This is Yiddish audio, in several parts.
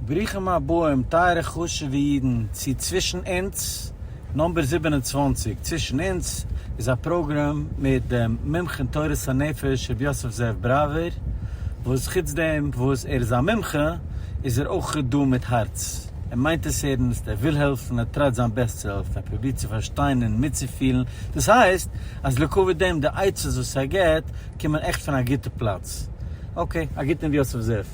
ברוכים הבאים טייערע חשוב'ע אידן צו צווישן אונז נומבער זיבן און צוואַנציק, צווישן אונז איז א פראגראם מיט דעם מומחה אין תורת הנפש ר' יוסף זאב בראווער, וואס חוץ דעם וואס ער איז א מומחה איז ער אויך דא מיט הארץ, ער מיינט עס ערנסט, ער וויל העלפן, ער טרייט זיין בעסט צו העלפן, ער פרובירט צו פארשטיין און מיטצופילן, דאס הייסט אז לקויי דעם די עצות וואס ער געבט קומען עכט פון א גוטע פלאץ, אקעי, א גוטן ר' יוסף זאב.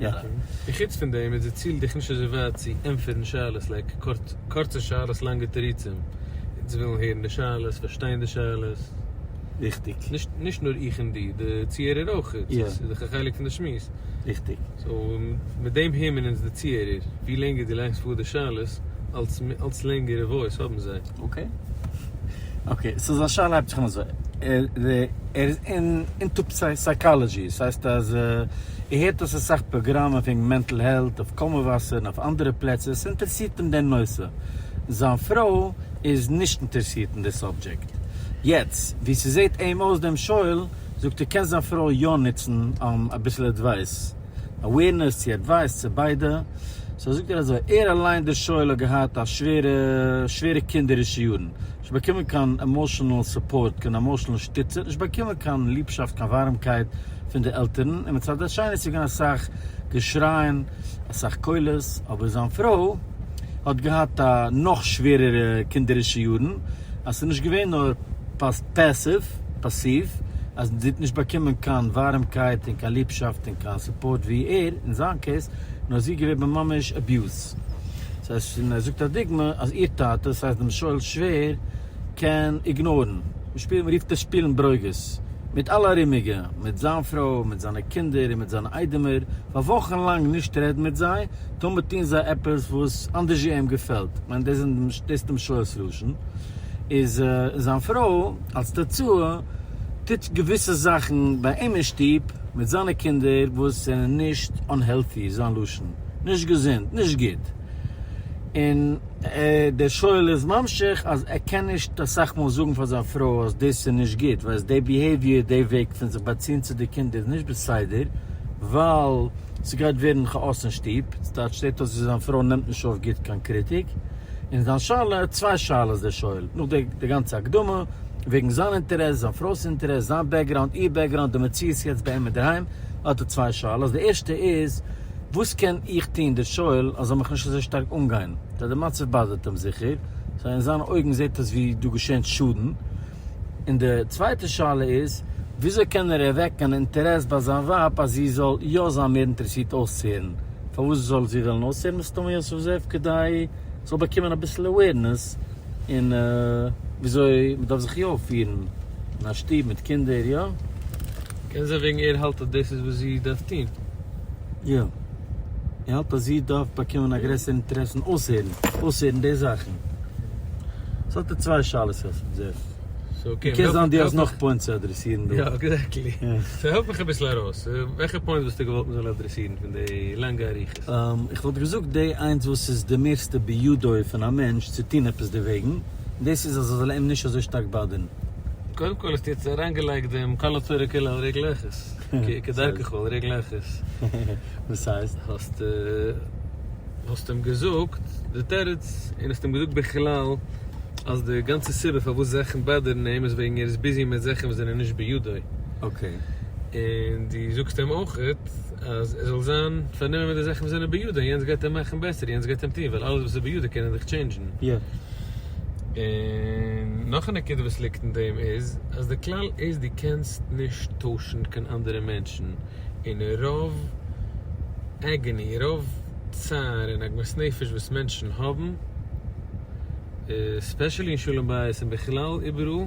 יא. און חוץ פון דעם איז די ציל דיך נישט אזוי ווייט צו ענטפערן שאלות לייק קורצע שאלות לאנגע תירוצים. אונז ווילן הערן די שאלות, פארשטיין די שאלות. ריכטיג. נישט נאר איך און דו, די צוהערער אויך. יא. ס'איז דאך א חלק פון די שמועס. ריכטיג. סאו, מיט דעם העמען אונז די צוהערער. ווי לענגער דו לייגסט פאר די שאלות, אלץ לענגערע וואויס האבן זיי. אקעי. אקעי, סאו זיין שאלה הייבט זיך אן אזוי, ער איז אינטו סייקאלעדזשי, עס הייסט אז ער הערט אז עס איז אסאך פראגראמען וועגן מענטל העלט אויף קאמעוואסער און אויף אנדערע פלעצער, עס אינטערעסירט אים דער נושא, זיין פרוי איז נישט אינטערעסירט אין די סאבדזשעקט. יעצט ווי ס'זעט אים אויס דעם שואל זאגט ער קען זיין פרוי יא נוצן אביסל עדווייס. אווערנעס צו עדווייס צו ביידע, סאו זאגט ער אזוי, ער אליין דער שואל האט געהאט א שווערע שווערע קינדערישע יארן, נישט באקומען קיין עמאשענעל סופארט, קיין עמאשענעל שטיצע, נישט באקומען קיין ליבשאפט קיין ווארעמקייט פון די עלטערן, און מצד השני איז געווען אסאך געשרייען אסאך קולות, אבער זיין פרוי האט געהאט א נאך שווערערע קינדערישע יארן, אז ס'איז נישט געווען נאר פעסיוו, פאסיוו, אז מען טוט נישט באקומען קיין ווארעמקייט און קיין ליבשאפט און קיין סופארט ווי ער, אין זיין קעיס, נאר זי געוועבן ממש אביוז. סאיז ש און ער זאגט א דוגמא אז איר טאטע, סהייסט דעם שואל'ס שווער, קען איגנארן, מען שפילט מען רופט עס שפילן ברוגז, מיט אלע ארומיגע, מיט זיין פרוי, מיט זיינע קינדער און מיט זיינע איידעמער, פאר וואכן לאנג נישט רעדן מיט זיי, תמיד טוהן זיי עפעס וואס אנדערש אים געפעלט, כ'מיין דאס איז דאס דעם שואל'ס לשון. איז זיין פרוי אלס תוצאה טוט געוויסע זאכן ביי אים אין שטוב מיט זיינע קינדער וואס זענען נישט אנהעלטי איז זיין לשון, נישט געזונט, נישט גוט, און דער שואל איז ממשיך אז ער קען נישט אסאך מאל זאגן פאר זיין פרוי אז דאס איז נישט גוט ווייל די ביהעיוויער די וועג פון זיך באציען צו די קינדער איז נישט בסדר ווייל ס'גייט ווערן כאאס אין שטוב, ס'טייטש זעט אויס ווי זיין פרוי נעמט נישט אויף גוט קיין קריטיק. און זיין שאלה האט צוויי שאלות דער שואל, נאך די די גאנצע הקדמה, וועגן זיין אינטערעס, זיין פרוי'ס אינטערעס, זיין בעקגראונד, איר בעקגראונד, די מציאות יעצט ביי אים אינדערהיים, האט ער צוויי שאלות, די ערשטע איז, וואס קען איך טון, דער שואל, אז זאל מיך נישט אזוי שטארק אנגיין, ווייל די מצב באדערט אים זיכער, סא אין זיינע אויגן זעט עס ווי דא געשענט שאדן, און די צווייטע שאלה איז, וויאזוי קען ער ערוועקן אן אינטערעס ביי זיין ווייב אז זי זאל יא זיין מער אינטערעסירט אויסצוהערן? פארוואס זאל זי וועלן אויסהערן מסתמא יוסף זאב כדי זאל באקומען אביסל אוועירנעס אין וויאזוי מ'דארף זיך יא אויפפירן אין א שטוב מיט קינדער, יא? קען זיין וועגן ער האלט אז דאס איז וואס זי דארף טון. יא. איך האלט אז איר דארפט באקומען א גרעסערע אינטערעס און אויסהערן, אויסהערן די זאכן. עס האט ער צוויי שאלות אויפן זעט. סאו קען זיין אז דו האסט נאך פוינטס צו אדרעסירן דא. יא, עקזעקטלי. סאו העלף מיך אביסל ארויס. וועלכע פוינטס וואלסטו געוואלט מען זאל אדרעסירן פון די לאנגע אריכות? איך וואלט געזאגט די איינס וואס איז די מערסטע בידו פון א מענטש צו טון עפעס דערוועגן, און דאס איז אז עס זאל אים נישט אזוי שטארק באדערן. קודם כל האסטו יעצט אריינגעלייגט דעם קאלא טוירע קילא על ריק לעכערס. כדרכך ועל רגליך איז. וואס הייסט? האסט האסט אים געזאגט די תירוץ און האסט אים געזאגט בכלל אז די גאנצע סיבה פארוואס זאכן באדערן אים איז וועגן ער איז ביזי מיט זאכן וואס זענען נישט בידו. אקעי. און דו זאגסט אים אויכעט אז ער זאל זיין פארנומען מיט די זאכן וואס זענען בידו און יענץ גייט אים מאכן בעסער און יענץ גייט אים טון ווייל אלעס וואס איז בידו קען ער דאך טשעינדזשן. יא. און נאך א נקודה וואס ליגט אין דעם איז אז די כלל איז דו קענסט נישט טוישן קיין אנדערע מענטשן און רוב עגעני רוב צער און עגמת נפש וואס מענטשן האבן ספעשעלי אין שלום בית און בכלל איבעראל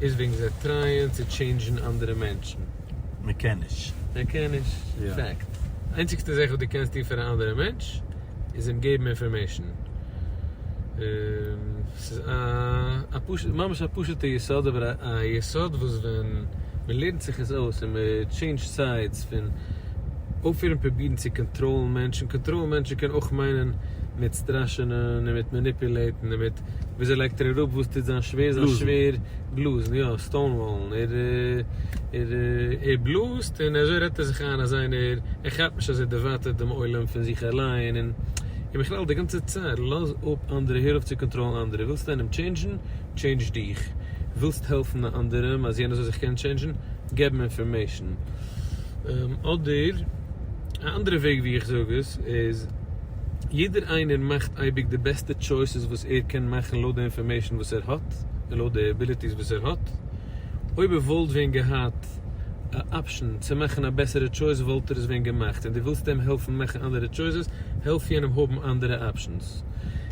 איז וועגן זיי טרייען צו טשעינדזשן אנדערע מענטשן. מען קען נישט. מען קען נישט. פעקט. איינציגסטע זעך וואס דו קענסט טון פאר א אנדערע מענטש. איז אים געבן אינפארמעישן. ס'איז א פשוט, ממש א פשוטע יסוד, אבער א יסוד וואס ווען מ'לערנט זיך עס אויס און מ'טשעינדזשט סיידס פון אויפהערן פרובירן צו קאנטראלן מענטשן, קאנטראלן מענטשן קען אויך מיינען מיט סטראשענען און מיט מעניפולעיטן און מיט וויאזוי לייגט ער אראפ וואס טוט זיין שווער זיין שווער. בלאזן יא, סטאונוואלן, ער ער בלאזט און אזוי רעדט ער זיך איין אז איינער, ער כאפט נישט אז ער דערווייטערט דעם עולם פון זיך אליין און און בכלל די גאנצע צייט לאז אפ אנדערע הער אויף צו קאנטראלן אנדערע, ווילסט איינעם טשעינדזשן? טשעינדזש דיך, ווילסט העלפן א אנדערעם אז יענער זאל זיך קענען טשעינדזשן? געב אים אינפארמעישן אדער א אנדערע וועג ווי איך זאג עס איז. יעדער איינער מאכט אייביג די בעסטע טשויסעס וואס ער קען מאכן לויט די אינפארמעישן וואס ער האט און לויט די עביליטיס וואס ער האט, אויב ער וואלט ווען געהאט א אפשען צו מאכן א בעסערע טשויס וואלט ער עס ווען געמאכט און דו ווילסט אים העלפן מאכן אנדערע טשויסעס, העלף יענעם האבן אנדערע אפשענס.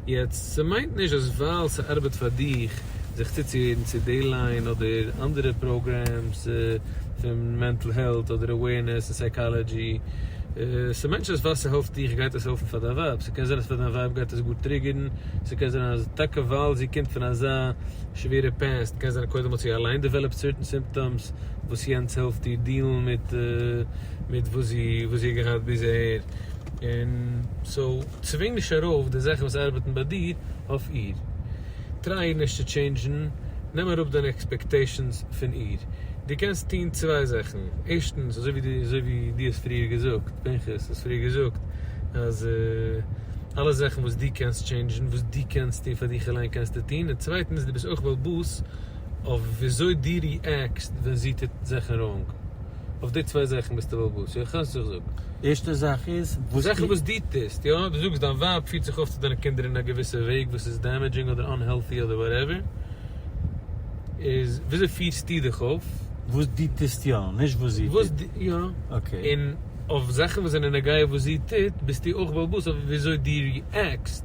יעצט, ס'מיינט נישט אז ווייל ס'ארבעט פאר דיך זיך צוצוהערן צו דעי ליין אדער אנדערע פראגרעמס פון מענטל העלט אדער אווערנעס און סייקאלאדזשי, ס'מיינט נישט אז ווייל ס'העלפט דיך גייט עס העלפן פאר דיין ווייב, ס'קען זיין אז פאר דיין ווייב גייט עס גאר טריגערן, ס'קען זיין אז טאקע ווייל זי קומט פון אזא שווערע פעסט, קען זיין קודם האט זי אליין דעוועלאפט סערטען סימפטאמס וואס יענץ העלפט איר דיעלן מיט מיט וואס זי וואס זי האט געהאט ביז אהער, און סאו צווינג נישט ארויף די זאכן וואס ארבעטן ביי דיר אויף איר. טריי נישט צו טשעינדזשן, נעם אראפ דיינע עקספעקטעישאנס פון איר. דו קענסט טון צוויי זאכן, ערשטנס אזוי ווי דו אזוי ווי דו האסט פריער געזאגט, פנחס האסט פריער געזאגט אז אלע זאכן וואס דו קענסט טשעינדזשן, וואס דו קענסט טון פאר דיך אליין קענסטו טון, און צווייטנס דו ביסט אויך בעל באס אויף וויאזוי דו ריעקסט ווען זי טוט זאכן ראנג, אויף די צוויי זאכן ביסטו בעל באס, יוחס, איך זאג. ערשטע זאך איז וואס זאכן וואס דו טוסט, יא, דו זאגסט דיין ווייב פירט זיך אויף צו דיינע קינדער אין א געוויסע וועג וואס איז דעמעדזשינג אדער אנהעלטי אדער וואטעווער, איז וויאזוי פירסטו דיך אויף? וואס דו טוסט יא, נישט וואס זי טוט. יא, און אויף זאכן וואס זענען נוגע וואס זי טוט ביסטו אויך בעל בית אויף וויאזוי דו ריעקסט.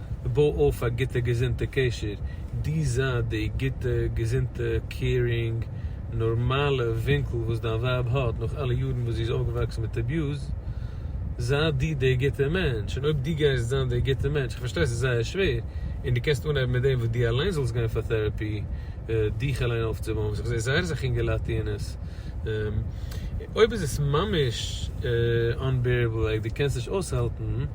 בוי אויף א גוטע געזונטע קשר, דו זיי די גוטע געזונטע קעירינג נארמאלע ווינקל וואס דיין ווייב האט נאך אלע יארן וואס זי איז אויפגעוואקסן מיט אביוז, זיי דו די גוטע מענטש, און אויב דו גייסט זיין די גוטע מענטש, איך פארשטיי ס'איז זייער שווער, און דו קענסט אנהייבן מיט דעם וואס דו אליין זאלסט גיין פאר טעראפי דיך אליין אויפצובויען, וואס איך זע זייער אסאך אינגעלייט טוען עס, אויב איז עס ממש אנבערעבל לייק דו קענסט נישט אויסהאלטן.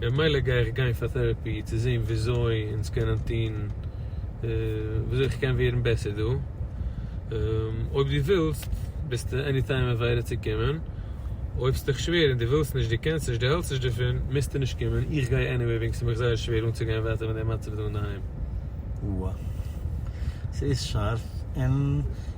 במילא גיי איך גיין פאר טערעפי צו זעהן וויאזוי אונז קענען טוהן וויאזוי איך קען ווערן בעסער דא, אויב דו ווילסט ביסטו עני טיים אוועילער צו קומען, אויב ס'איז דיך שווער און דו ווילסט נישט דו קענסט נישט דו העלסט נישט דערפון מוזטו נישט קומען, איך גיי עניוועי וועגן ס'איז מיך זייער שווער אנצוגיין ווייטער מיט די מצב דא אינדערהיים. וואו ס'איז שארף און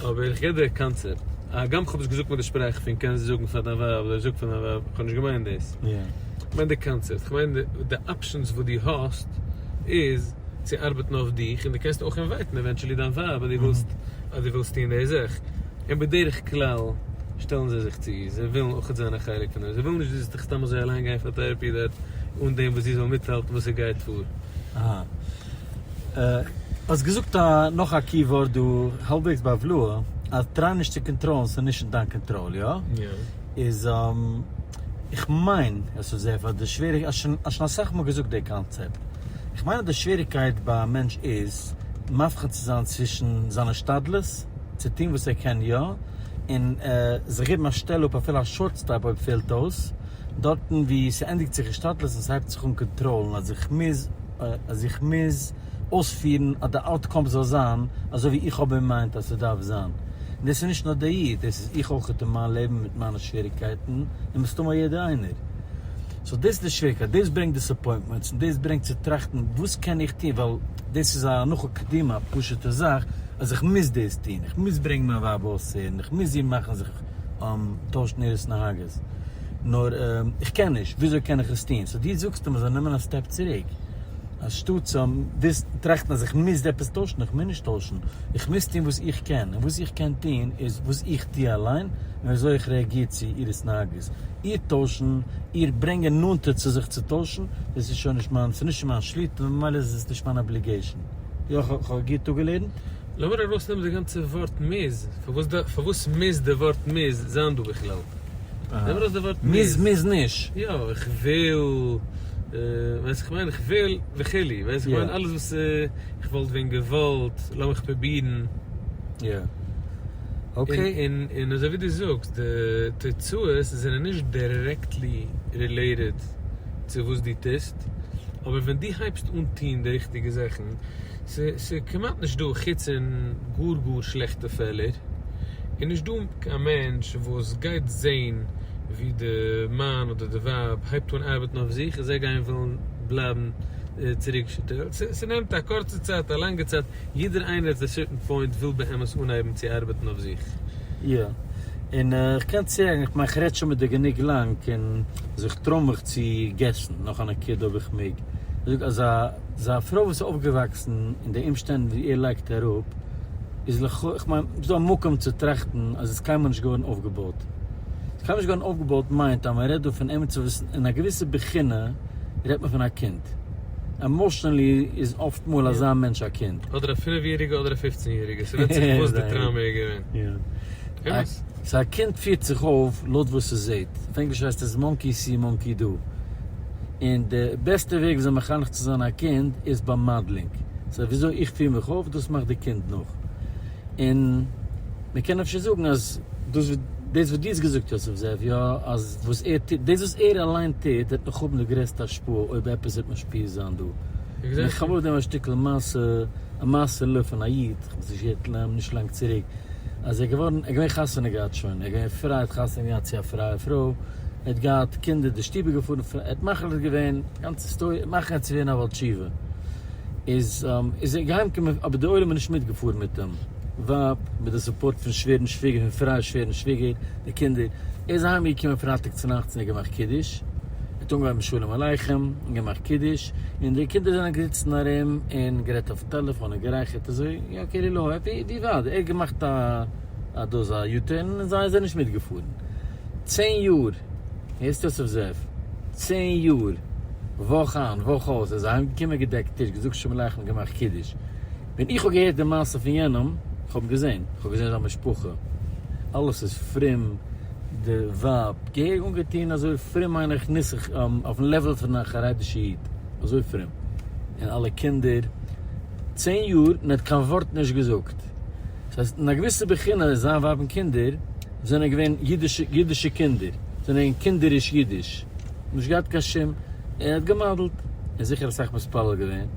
אבער איך גיב דיר קאנצעפט, הגם כ'האב עס געזאגט מיט די שפראך פון קענסט זאגן פאר דיין ווייב אדער זאג פאר דיין ווייב, כ'האב נישט געמיינט דאס, כ'מיין די קאנצעפט, כ'מיין די אפשענס וואס דו האסט איז צו ארבעטן אויף דיך, און דו קענסט אויך אינווייטן עווענטשעלי דיין ווייב אז דו ווילסט אז דו ווילסט טון די זאך, און בדרך כלל שטעלן זיי זיך צו, זיי ווילן אויך זיין א חלק פון דעם, זיי ווילן נישט דו זאלסט סתם אזוי אליין גיין פאר טעראפי אן דעם וואס זי זאל מיטהאלטן וואס ס'גייט פאר. האסט געזאגט א נאך א קי ווארט דא האלבוועגס ביי ולא אז טריי נישט צו קאנטראלן ס'איז נישט אין דיין קאנטראל יא? איז איך מיין עס איז זעהר פאר די שוועריג האסט שוין האסט שוין אסאך מאל געזאגט די קאנצעפט איך מיין אז די שוועריגקייט ביי א מענטש איז מבחין צו זיין צווישן זיין השתדלות צו טוהן וואס ער קען יא און זיך געבן א שטעל אפ אפילו א שארט סטעפ אויב פעלט אויס דארטן ווי ס'ענדיגט זיך השתדלות און ס'הייבט זיך אן קאנטראלן אז איך מוז אז איך מוז אויספירן אז די אוטקאם זאל זיין אזוי ווי איך האב אין מיינד אז ס'דארף זיין. און דאס איז נישט נאר דער איד, דאס איז איך אויך אין מיין לעבן מיט מיינע שוועריגקייטן, און מסתמא יעדער איינער. סאו דאס איז די שוועריגקייט, דאס ברענגט דיסעפוינטמענטס, און דאס ברענגט צו טראכטן וואס קען איך טון, ווייל דאס איז א הנחה קדימה, א פשוט'ע זאך, אז איך מוז דאס טון, איך מוז ברענגן מיין ווייב אויסהערן, איך מוז איר מאכן זיך טוישט מיר עס נהגות נאר איך קען נישט וויאזוי קען איך עס טון סאו דו זאגסט אז מען זאל נעמען א סטעפ צוריק אז שטאט צו וויסן טראכטן אז איך מוז עפעס טוישן איך מוז נישט טוישן איך מוז טון וואס איך קען און וואס איך קען טון איז וואס איך טו אליין און וויאזוי איך רעאגיר צו איר התנהגות איר טוישן איר ברענגען נאנטער צו זיך צו טוישן דאס איז שוין נישט מיין ס'איז נישט אין מיין שליטה ממילא איז עס נישט מיין אבליגעישן. יא כ'האב גוט אפגעלערנט. לאמיר ארויסנעמען די גאנצע ווארט מוז, פארוואס מוז די ווארט מוז זיין דא בכלל? נעם ארויס די ווארט מוז. מוז מוז נישט. יא, איך וויל, ווייסט איך מיין איך וויל וכו', ווייסט איך מיין אלעס וואס איך וואלט ווען געוואלט, לאמיך פרובירן. יא. אקעי. און און אזוי ווי דו זאגסט, די תוצאות זענען נישט דירעקטלי רילעיטעד צו וואס דו טוסט, אבער ווען דו הייבסט אן טון די ריכטיגע זאכן, ס'איז כמעט נישט דא, חוץ אין גאר גאר שלעכטע פעלער, איז נישט דא קיין מענטש וואס גייט זעהן ווי די מאן אדער די ווייב הייבט אן ארבעטן אויף זיך און זיי גייען ווילן בלייבן צוריקגעשטעלט. ס'נעמט א קורצע צייט, א לאנגע צייט, יעדער איינער עט א סערטען פוינט וויל באמת אנהייבן צו ארבעטן אויף זיך. יא, און איך קען צוהערן, איך מיין כ'רעד שוין מיט דיר גענוג לאנג, און זיך טרוימעך צו געסן נאך א נקודה אויב איך מעג, זאג, אזא. זיין פרוי וואס איז אויפגעוואקסן אין די אומשטענדן וואו ער לייגט אראפ איז לכאו', איך מיין ס'איז דא א מקום צו טראכטן אז איז קיינמאל נישט געווארן אויפגעבויט. איז קיינמאל נישט געווארן אויפגעבויט מיינט אז מ'רעדט דא פון עמיצער וואס אין א געוויסע בחינה רעדט מען פון א קינד. עמאשענלי איז אפט מאל אזא מענטש א קינד. אדער א פינף יעריגע אדער א פופצן יעריגע ס'ווענדט זיך וואס די טראומע איז געווען. אמת. סא א קינד פירט זיך אויף לויט וואס ס'זעהט. אויף ענגליש הייסט עס מאנקי סי מאנקי דא. און די בעסטע וועג וויאזוי מחנך צו זיין א קינד איז ביי מאדלינג, סא וויאזוי איך פיר מיך אויף דאס מאכט די קינד נאך, און מען קען אפשר זאגן אז דאס וואס דו האסט געזאגט יוסף זאב יא אז וואס ער טוט דאס וואס ער אליין טוט וועט נאך האבן די גרעסטע השפעה אויב עפעס וועט משפיע זיין דא, און איך האב אויף דעם א שטיקל מעשה א מעשה ל פון א איד איך האב עס נישט געהערט לע נישט לאנג צוריק אז ער געווארן ער געווען חתונה געהאט שוין ער געווען פרייע האט חתונה געהאט צו א פרייע פרוי, ער האט געהאט קינדער די שטוב איז געפארן פון ער האט מחליט געווען גאנץ היסטאריע מאכן ער צו ווערן א בעל תשובה איז איז ער געהיים געקומען אבער די עולם איז נישט מיט געפארן מיט דעם ווייב מיט די סופארט פון שווערן שוויגער פון פרייע שווערן שוויגער די קינדער ער איז אהיים געקומען פרייטאג צונאכטס און ער האט געמאכט קידוש ער האט אנגעהויבן שלום עליכם און געמאכט קידוש און די קינדער זענען געזיצן ארום און גערעדט אויפן טעלעפאן און גערייכערט אזוי יעקעלע לוי ער האט געמאכט א אז דאס איז א יו-טערן און זיי זענען נישט מיטגעפארן. צען יאר, הערסט יוסף זאב? צען יאר, וואך איין וואך אויס איז ער אהיימגעקומען געדעקט טיש, געזאגט שלום עליכם, געמאכט קידוש. ווען איך האב געהערט די מעשה פון יענעם, איך האב געזען, איך האב געזען זיין משפחה, אלעס איז פרום, די ווייב, געהעריג אנגעטון, אזוי פרום מיין איך נוסח, אויפן לעוועל פון א חרדישע איד, אזוי פרום, און אלע קינדער, צען יאר, מען האט קיין ווארט נישט געזאגט. דאס הייסט אין א געוויסע בחינה איז זיין ווייב און קינדער זענען געווען אידישע קינדער, זענען געווען קינדעריש אידיש, נישט געהאט קיין שום, ער האט געמאדעלט, און זיכער אסאך מתפלל געווען,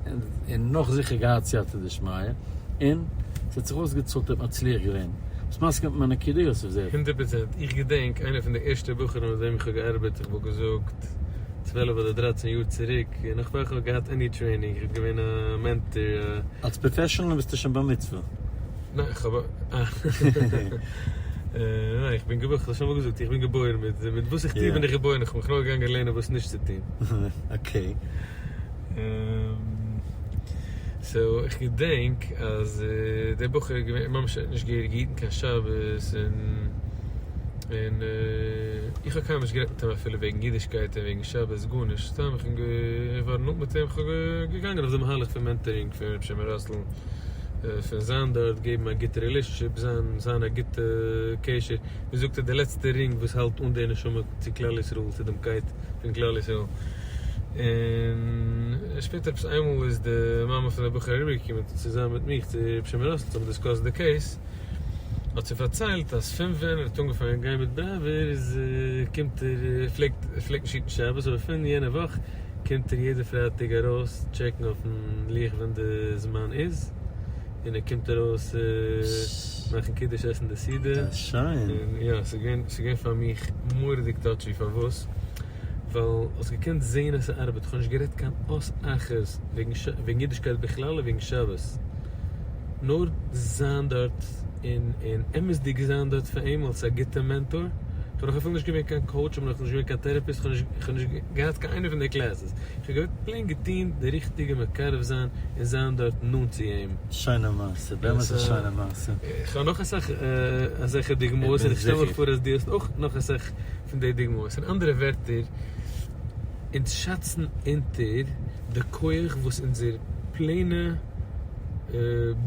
און נאך זיכער געהאט סייעתא דשמיא, און ס'האט זיך אויסגעצאלט ער האט מצליח געווען, ביסט מסכים מיט מיין נקודה יוסף זאב? הונדערט פראצענט, איך געדענק איינע פון די ערשטע בחורים מיט וועם איך האב געארבעט, איך וואלט געזאגט צוועלף אדער דרייצען יאר צוריק, נאך פאר איך האב געהאט עני טרעינינג, איך האב געווען א מענטאר, א. אלס פראפעשענעל ביסטו שוין במצוה. איך האב איך בין געבוירן כ'האב שוין אמאל געזאגט איך בין געבוירן מיט מיט וואס איך טוה בין איך געבוירן איך בין מיך נאר געגאנגען לערנען וואס נישט צו טוהן. אקעי. סאו איך געדענק אז דער בחור איז געווען ממש נישט געהעריג געהיטן קיין שבת און און איך האב קיינמאל נישט גערעדט מיט אים אפילו וועגן אידישקייט און וועגן שבת גארנישט סתם איך בין געווארן נאנט מיט אים איך בין געגאנגען אויף די מהלך פון מענטערינג פון ר' שמעון ראסל. פון זיין דארט געבן א גוטע רילעשענשיפ זיין זיין א גוטע קשר ווי זאגט ער די לעצטע רינג וואס האלט אן די נשמה צו כלל ישראל צו דעם קייט פון כלל ישראל און שפעטער עפעס איינמאל איז די מאמע פון די בחור אריבער געקומען צוזאמען מיט מיך צו ר' שמעון ראסל צו האבן דיסקאסט די קעיס האט זי פארציילט אז פון ווען ער האט אנגעפאנגען גיין מיט בראווער איז קומט ער פלעגט ער פלעגט נישט היטן שבת אבער פון יענע וואך קומט ער יעדע פרייטאג ארויס טשעקן אויפן לוח ווען די זמן איז, און ער קומט ארויס מאכן קידוש עסן די סעודה, און יא ס'איז געווען ס'איז געווען פאר מיך מורא'דיג טאטשי פארוואס? ווייל האסט געקענט זעהן אז ס'ארבעט, כ'האב נישט גערעדט קיין אות אחת וועגן ש וועגן אידישקייט בכלל און וועגן שבת, נאר זיין דארט און און אמת'דיג זיין דארט פאר אים אלס א גוטע מענטאר, כ'בין נאך אפילו נישט געווען קיין קאוטש, כ'בין נאך נישט געווען קיין טערעפיסט, כ'האב נישט כ'האב נישט. געהאט קיין איינע פון די קלעסעס, איך האב געוואלט פלעין געטוהן די ריכטיגע מקרב זיין און זיין דארט נאנט צו אים. שיינע מעשה, באמת א שיינע מעשה. איך האב נאך אסאך אזעלכע דוגמאות און איך שטעל מיך פאר אז דו האסט אויך נאך אסאך פון די דוגמאות, אין אנדערע ווערטער, אונז שאצן אונטער די כח וואס אונזער פלעינע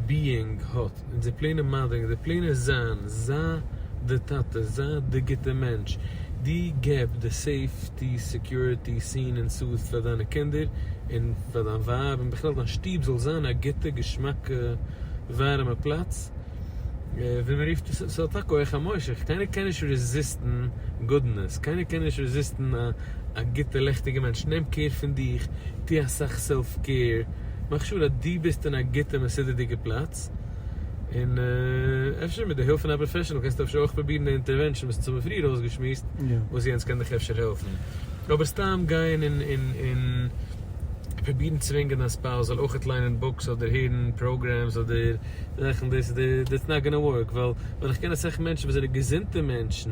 ביאינג האט. און זיי פלענען מאדערן, זיי פלענען זיין, זיי די טאטע, זיי די גוטע מענטש, דו געב די סעיפטי, סעקיוריטי, סין און סאס פאר דיינע קינדער און פאר דיין ווייב און בכלל דיין שטוב זאל זיין א גוטע געשמאקע ווארעמע פלאץ, ווי מען רופט עס, ס'האט א כח המושך, קיינער קען נישט רעזיסטן גודנעס, קיינער קען נישט רעזיסטן א גוטע לעכטיגע מענטש, נעם קעיר פון דיך, טו אסאך סעלף קעיר. מאך שור אז דו ביסט אין א גוטע מסודר'דיגע פלאץ, און אפשר מיט די הילף פון א פראפעשענעל קענסטו אפשר אויך פרובירן די אינטערווענשאן וואס האבן פריער אויסגעשמועסט, וואס יענץ קען דיך אפשר העלפן. אבער סתם גיין און פרובירן צווינגען א ספאוז זאל אויכעט ליינען בוקס אדער הערן פראגרעמס אדער זאכן, דאס איז, דעטס נאט גאנא ווארק, ווייל ווען איך קען אסאך מענטשן וואס זענען געזונטע מענטשן,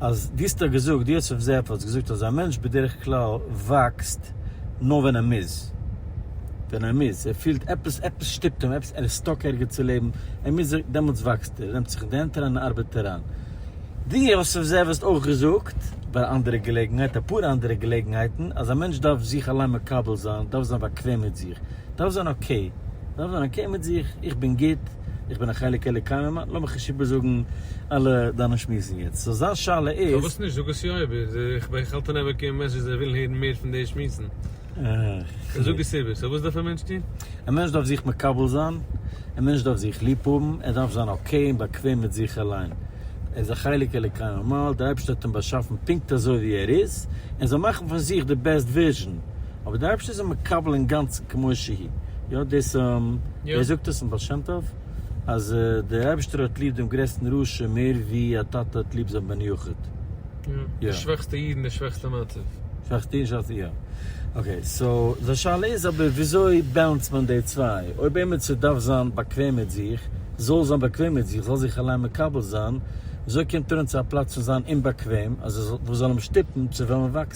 אז דו האסט דאך געזאגט, דו האסט אויף זעהב האטס געזאגט אז א מענטש בדרך כלל וואקסט נאר ווען ער מוז, ווען ער מוז, ער פילט עפעס, עפעס שטופט אים, עפעס, ער איז סטאק ערגעץ צו לעבן, ער מוז זיך, דעמאלטס וואקסט ער, ער נעמט זיך אין די הענט אריין און ארבעט אריין. דו האסט אויף זעהב האסט אויך געזאגט, ביי א אנדערע געלעגנהייט, אפאר אנדערע געלעגנהייטן, אז א מענטש דארף זיך אליין מקבל זיין, דארף זיין באקוועם מיט זיך, דארף זיין אקעי, דארף זיין אקעי מיט זיך, איך בין גוט, איך בין א חלק אלוקי ממעל, לאמיך נישט איבערזאגן אלע דיינע שמועסן יעצט, סאו זיין שאלה איז. פארוואס נישט? זאג עס יא איבער, איך האלט אן עמוק אין מענטשן זיי ווילן הערן מער פון די שמועסן, סאו זאג עס איבער, סאו וואס דארף א מענטש טון? א מענטש דארף זיך מקבל זיין, א מענטש דארף זיך ליב האבן, ער דארף זיין אקעי און באקוועם מיט זיך אליין, ער איז א חלק אלוקי ממעל, דער אייבערשטער האט אים באשאפן פונקט אזוי ווי ער איז, ער זאל מאכן פון זיך די בעסט ווערזשען אבער דער אייבערשטער איז אים מקבל אינגאנצן כמו שהי', יא דאס און ווער זאגט עס אין בעל שם טוב אז דער אייבערשטער האט ליב דעם גרעסטן רשע מער ווי א טאטע האט ליב זיין בן יחיד, יא. די שוועכסטע איד אין די שוועכסטע מצב. שוועכסטע איד אין שוועכסטע, יא. אקעי סאו די שאלה איז אבער וויאזוי בעלענסד מען די צוויי? אויב עימיצער דארף זיין באקוועם מיט זיך, זאל זיין באקוועם מיט זיך, זאל זיך אליין מקבל זיין, וויאזוי קומט ער אן צו א פלאץ פון זיין אומבאקוועם אז עס זאל וואס זאל אים שטופן צו וועלן וואקסן?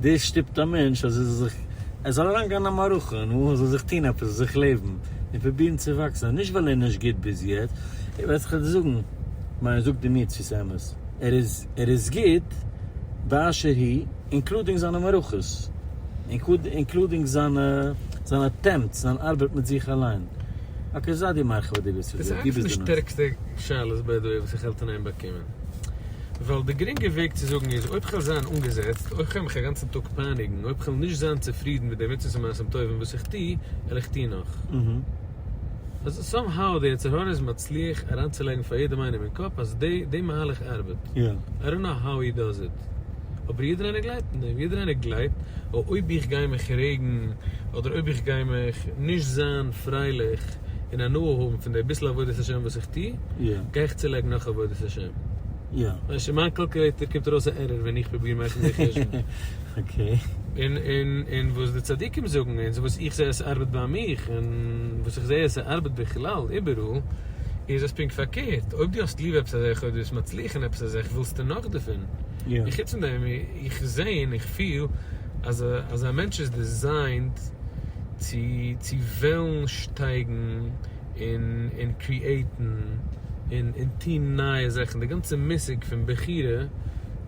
דאס שטופט א מענטש אז ער זאל זיך, ער זאל אריינגיין אין א מערכה און ער זאל זיך טון עפעס, זיך לעבן און פרובירן צו וואקסן, נישט ווייל ער איז נישט גוט ביז יעצט, ער וועט זיך אדער זאגן, מיין זאג דו מיר צו ס'איז אמת, ער איז, ער איז גוט באשר הוא, אינקלודינג זיינע מערכות, אינקלודינג זיינע, זיין אטעמפטס, זיין ארבעט מיט זיך אליין. אקעי, זיי דיר מרחיב אז דו ווילסט עס, דו ביסט די נס. דאס איז אייביג די שטערקסטע שאלות ביי די וועי וואס איך האלט אין איין באקומען. ווייל די גרינגע וועג צו זאגן איז, אויב כ'וועל זיין אנגעזעצט, אויב כ'וועל מיך א גאנצן טאג פייניגן, אויב כ'וועל נישט זיין צופרידן מיט די מצוות ומעשים טובים וואס איך טו, וועל איך טון נאך. אלזא, סאם האו די יצר הרע איז מצליח אריינצולייגן פאר יעדעם איינעם אין קאפ אז די די מהלך ארבעט. איי דאנט נאו האו הי דאז איט, אבער יעדער איינער גלייבט אין דעם. יעדער איינער גלייבט, אויב איך גיי מיך רעגן, אדער אויב איך גיי מיך נישט זיין פרייליך, און הנאה האבן פון די ביסל עבודת השם וואס איך טו, גיי איך צולייגן נאך עבודת השם. ווייסט שוין מיין קאלקולעיטער קומט ארויס א ערראר ווען איך פרוביר מאכן די חשבון. און וואס די צדיקים זאגן און וואס איך זעה אז ס'ארבעט ביי מיך און וואס איך זעה אז ס'ארבעט בכלל איבעראל, איז אז פונקט פארקערט, אויב דו האסט ליב עפעס א זאך אויב דו ביסט מצליח אין עפעס א זאך ווילסטו נאך דערפון, און חוץ פון דעם. איך זעה און איך פיל אז א מענטש איז דיזיינט צו וועלן שטייגן און קריעיטן און טון נייע זאכן, די גאנצע מושג פון בחירה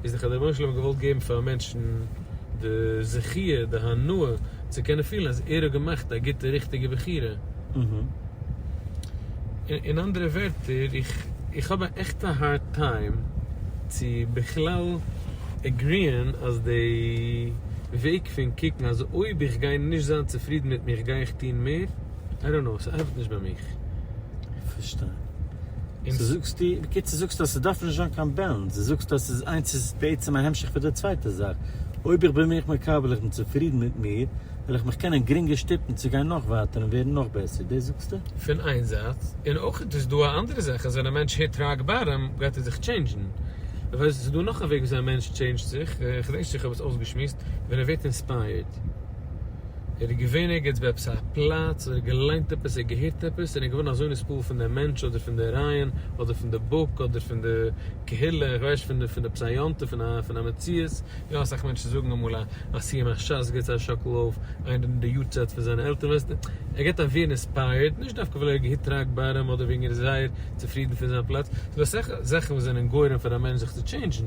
איז דאך אז דער רבונו של עולם האט געוואלט געבן פאר מענטשן די זכיה, די הנאה. צו קענען פילן אז ער האט געמאכט א גוטע ריכטיגע בחירה. אין אנדערע ווערטער, איך איך האב א עכטע הארד טיים צו בכלל עגריען אז די וועג פון קוקן אז אויב איך גיי נישט זיין צופרידן מיט מיך גיי איך טון מער, איי דאנט קנאו, ס'ארבעט נישט ביי מיך. איך פארשטיי. סאו זאגסטו, בקיצור זאגסטו אז ס'דארף נישט זיין קיין בעלענס, דו זאגסט אז ס'איז איינס איז בעצם א המשך פון די צווייטע זאך. אויב איך בין מיך מקבל איך בין צופרידן מיט מיר, וועל איך מיך קענען גרינגער שטופן צו גיין נאך ווייטער און ווערן נאך בעסער. דאס זאגסטו? פון איין זייט, און אויך איז דאס דא א אנדערע זאך אז ווען א מענטש היט ראק באטאם גייט ער זיך טשעינדזשן. איך ווייס נישט, ס'איז דא נאך א וועג וויאזוי א מענטש טשעינדזשט זיך, איך ווייס נישט איך האב עס אויסגעשמועסט, ווען ער ווערט אינספייערד. ער איז געווען ערגעץ ביי עפעס א פלאץ, אדער געליינט עפעס, אדער געהערט עפעס, און ער איז געווארן אזוי נספּעל פון דעם מענטש, אדער פון דער רעיון, אדער פון דער בוק, אדער פון דער קהילה, איך ווייס נישט, פון עפעס א יום טוב, פון א מציאות. יא, אסאך מענטשן זאגן אמאל א סיום הש ס, גיבט זיי א שאקל אויף איינער די יארצייט פון זיינע עלטערן, ווייסט ער גייט אווער אינספייערד, נישט דווקא ווייל ער האט געהיט ראק באטאם, אדער וועגן ער איז זייער צופרידן פון זיין פלאץ. ס'דא אסאך זאכן וואס זענען גורם פאר א מענטש זיך צו טשעינדזשן.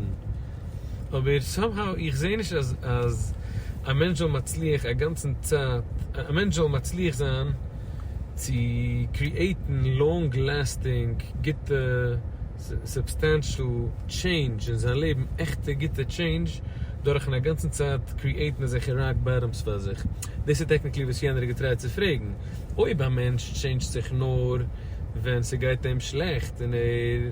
אבער סאמהאו איך זעה נישט אז אז א מענטש זאל מצליח א גאנצן צייט א מענטש זאל מצליח זיין צו קריעטן לאנג לעסטינג גוטע סובסטענשעל טשעינדזש אין זיין לעבן עכטע גוטע טשעינדזש דורכן א גאנצן צייט קריעטן אזעלכע ראק באטאם'ס פאר זיך. דאס איז טעקניקלי וואס יענער האט געטרייט צו פרעגן. אויב א מענטש טשעינדזשט זיך נאר ווען ס'גייט אים שלעכט און ער.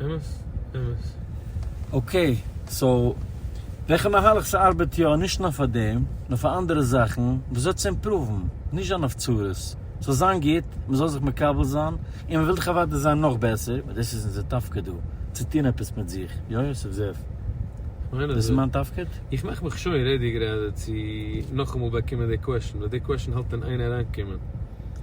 אמת, אמת. אקעי, סאו וועלכע מהלך ס'ארבעט יא, נישט נאר פאר דעם, נאר פאר אנדערע זאכן, וואס וועט עס אימפראוון, נישט זיין אויף צרות, ס'זאל זיין גוט, מ'זאל זיך מקבל זיין, און מ'וויל דאך אוודאי זיין נאך בעסער, ווייל דאס איז אונזער תפקיד דא, צו טון עפעס מיט זיך, יא יוסף זאב? דאס איז מיין תפקיד? איך מאך מיך שוין רעדי גראדע צו נאכאמאל באקומען די קוועשן, ווייל די קוועשן האלט אין איין אריינקומען.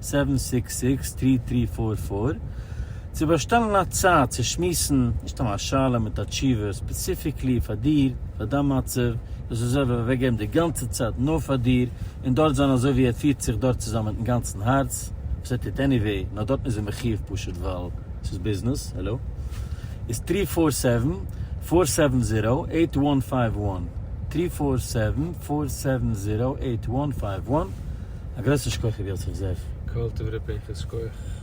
סעווען סיקס סיקס טרי טרי פאר פאר צו באשטעלן א צייט צו שמועסן, נישט סתם א שאלה מיט א תשובה, ספעציפיקלי פאר דיר, פאר דיין מצב, דאס איז אויב ער וועט אוועק געבן די גאנצע צייט נאר פאר דיר, און דארט זיין אזוי ווי ער פירט זיך דארט צוזאמען מיטן גאנצן הארץ, וואס ער טוט עניוועי, נאר דארטן איז ער מחיוב פשוט ווייל ס'איז ביזנעס, העלא, איז טרי פאר סעווען פאר סעווען זיראו עיט וואן פייוו וואן, טרי פאר סעווען פאר סעווען זיראו עיט וואן פייוו וואן. א גרויסן שכח רבי יוסף זאב. כל טוב ר' פנחס שכוח.